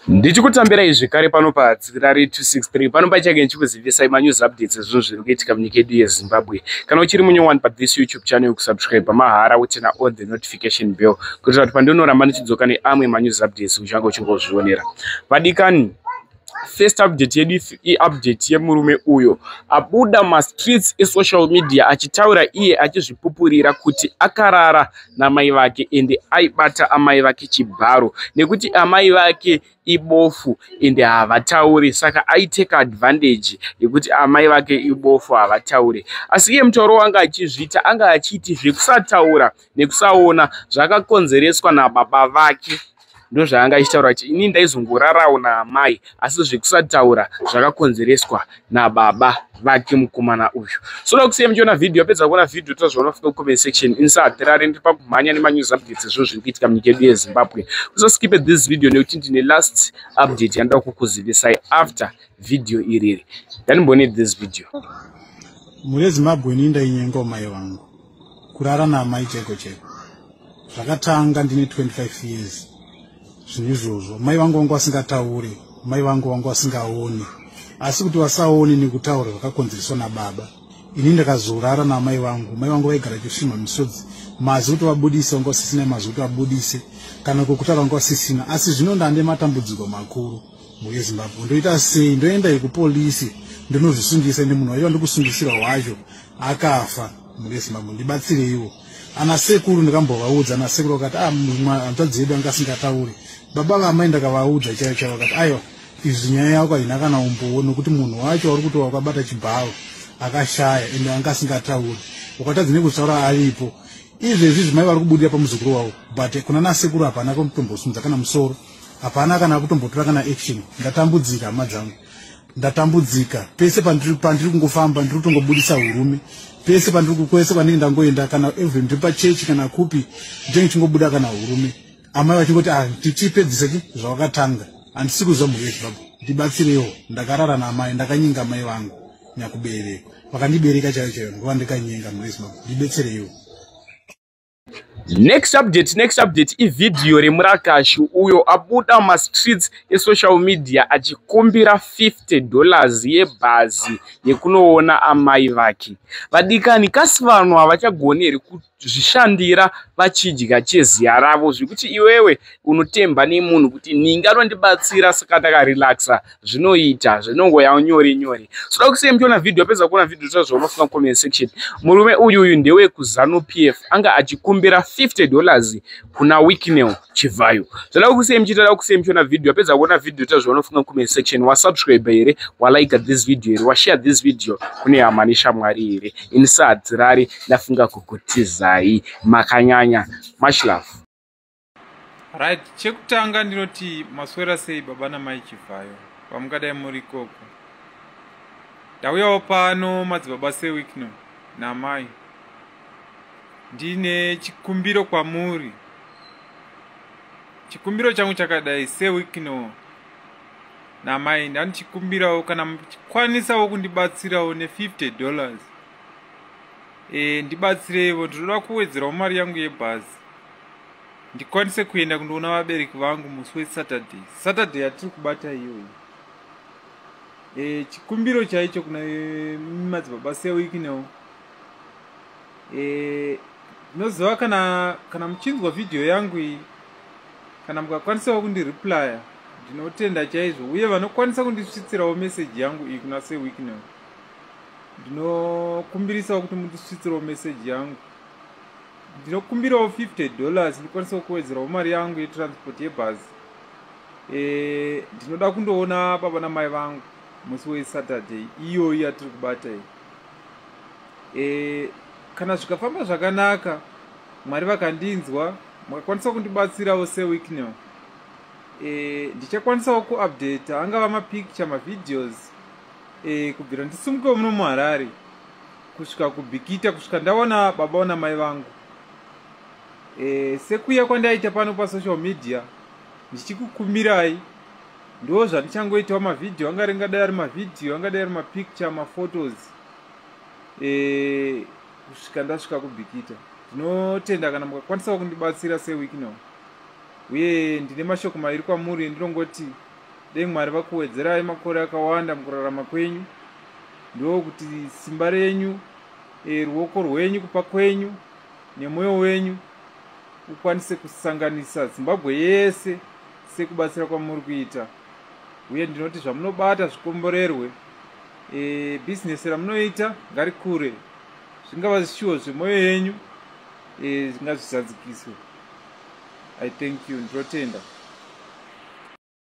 ndichikutambira izvi kare pano patsirari 263 pano pachake ndichikuzivisai manews updates ezvinhu zviri kuitika munyika yedu yezimbabwe kana uchiri munyowani pathis youtube channel yokusubscribe pamahara utena all the notification bell kuitira kuti pandinoramba ndichidzoka neamwe manews updates uchange uchingozvionera vadikani first update yedu iupdate yemurume uyo abuda mastreets esocial media achitaura iye achizvipupurira kuti akarara namai vake ende aibata amai vake chibharo nekuti amai vake ibofu ende havataure saka aitake advantage yekuti amai vake ibofu havataure asi iye mutauro wanga achizviita anga achiiti zvekusataura nekusaona zvakakonzereswa nababa vake ndozvaanga achitaura kuti ini ndaizongorarawo naamai asi zvekusataura zvakakonzereswa nababa vake mukomana uyu so ndakusiya muchiona vhidhiyo apedza kuona vhidhiyo toa zvaunofika kucomment section insahatirare ndiri pakumhanya nemanyuzi updates ezvino zviri kuitika munyika yedu yezimbabwe usaskipe this video nekuti ndine last update yandoda kukuzivisai after vhidhiyo iriri ndanimbone this video mhuri yezimbabwe ini ndainyengawo mai vangu kurara naamai cheko cheko zvakatanga ndine 25 years zvinhu izvozvo mai vangu vanga vasingatauri mai vangu vanga vasingaoni asi kuti vasaoni nekutaura zvakakonzereswa nababa ini ndakazorara naamai vangu mai vangu vaigara chifima misodzi mazi kuti vabudise vanga vasisina mazi kuti vabudise kana kokutaura vanga vasisina asi zvino ndande matambudziko makuru Mbuye Zimbabwe ndoita sei ndoenda kupolisi ndinozvisungisa ende munhu wacho andikusungusira wacho akafa mbuye Zimbabwe ndibatsireiwo ana sekuru ndikambovaudza ana sekuru vakati ah, hanzvadzi yedu anga asingatauri baba vamai ndakavaudza chaiyo chaiyo vakati aiwa izvi nyaya yako haina kana umbowo nokuti munhu wacho wauri kuti wakabata chibharo akashaya ende anga asingatauri ukatadzi nekuzvitaura aripo izvezvi zvimai vari kubudira pamuzukuru wavo but kuna nasekuru hapana kutombosunza kana musoro hapana kana akutombotora kana action ndatambudzika hama dzangu ndatambudzika pese pandiri pandiri kungofamba ndiri kutongobudisa urume pese pandiri kukwese kwandinge ndangoenda kana even ndiri pachechi kana kupi ndinenge chingobuda kana urume amai vachingoti ah, tichipedzisa chi zvawakatanga handisi kuziva mhuri yezvibhabha ndibatsirewo ndakarara naamai ndakanyenga amai vangu nyakubereka vakandibereka chaiyo chaiyo ndovandikanyenga mhuri yezvibhabha ndibetsereiwo next update next update ivhidhiyo remurakashi uyo abuda mastreets esocial media achikumbira 50 dollars yebhazi yekunoona amai vake vadikani kasi vanhu havachagoni here kuzvishandira vachidya cheziya ravo zvekuti iwewe unotemba nemunhu kuti ninga anondibatsira saka ndakarelaxa zvinoita zvinongoya nyore nyore soda kusiya muchiona vhidhiyo apedza kuona vhidhiyo zva zvaunofunga comment section murume uyu uyu ndewe kuzanu p f anga achikumbira 50 dollars kuna weeknel chivhayo zvoda kusiya muchiita da kusiya muchiona vhidhiyo apedza kuona vhidhiyo ta zvaunofunga comment section wasubscribe here walike this video here washare this video kune hama neshamwari here ini saadzirari ndafunga kukutizai makanyanya much love right chekutanga ndinoti maswera sei baba namai chivhayo pamungadai muri ikoko ndauyawo pano madzibaba sewikno namai ndine chikumbiro kwamuri chikumbiro changu chakadai sewikno namai ndanichikumbirawo kana muchikwanisawo kundibatsirawo ne50 dollars e, ndibatsireivo ndinoda kuwedzerawo mari yangu yebhazi ndikwanise kuenda kundoona vabereki vangu musi wesaturday saturday yatiri kubata iyoyi e, chikumbiro chaicho kuna e, madzibaba sewiki now e, noziva kana kana muchinzwa vhidhiyo yangu iyi kana mukakwanisawo kundireplya ndinotenda chaizvo uye vanokwanisa kundisvitsirawo meseji yangu iyi kuna sewiki now ndinokumbirisawo kuti mundisvitsirawo meseji yangu ndinokumbirawo 50 dollars ndikwanisa kuwedzerawo mari yangu yetransport yebhazi eh, ndinoda e, kundoona baba namai vangu musi wesaturday iyoyi yatiri kubata iyi e, kana zvikafamba zvakanaka mwari vakandinzwa makakwanisa kundibatsirawo sewicknel e, ndichakwanisawo kuupdata angava mapicture mavideos e, kubvira ndisimukewo muno muharare kusvika kubikita kusvika ndaona baba ona mai vangu e, sekuya kwandaita pano pasocial media ndichikukumbirai ndo zvandichangoitawo mavhidhiyo anga ringadai ari mavhidhiyo angadai ari mapicture maphotos e, kusvika ndasvika kubikita ndinotenda kana mukakwanisawo kundibatsira seweek now uye ndine mashoko mairi kwamuri ndinongoti dei mwari vakuwedzerai makore akawanda mukurarama kwenyu ndokuti simba renyu e, ruoko rwenyu kupa kwenyu nemwoyo wenyu ukwanise kusanganisa zimbabwe yese sekubatsira kwamuri kuita uye ndinoti zvamunobata zvikomborerwe e, bhizinesi ramunoita ngarikure zvingava zvishuwo zvemwoyo yenyu e, zvingazvizadzikiswe i thank you ndinotenda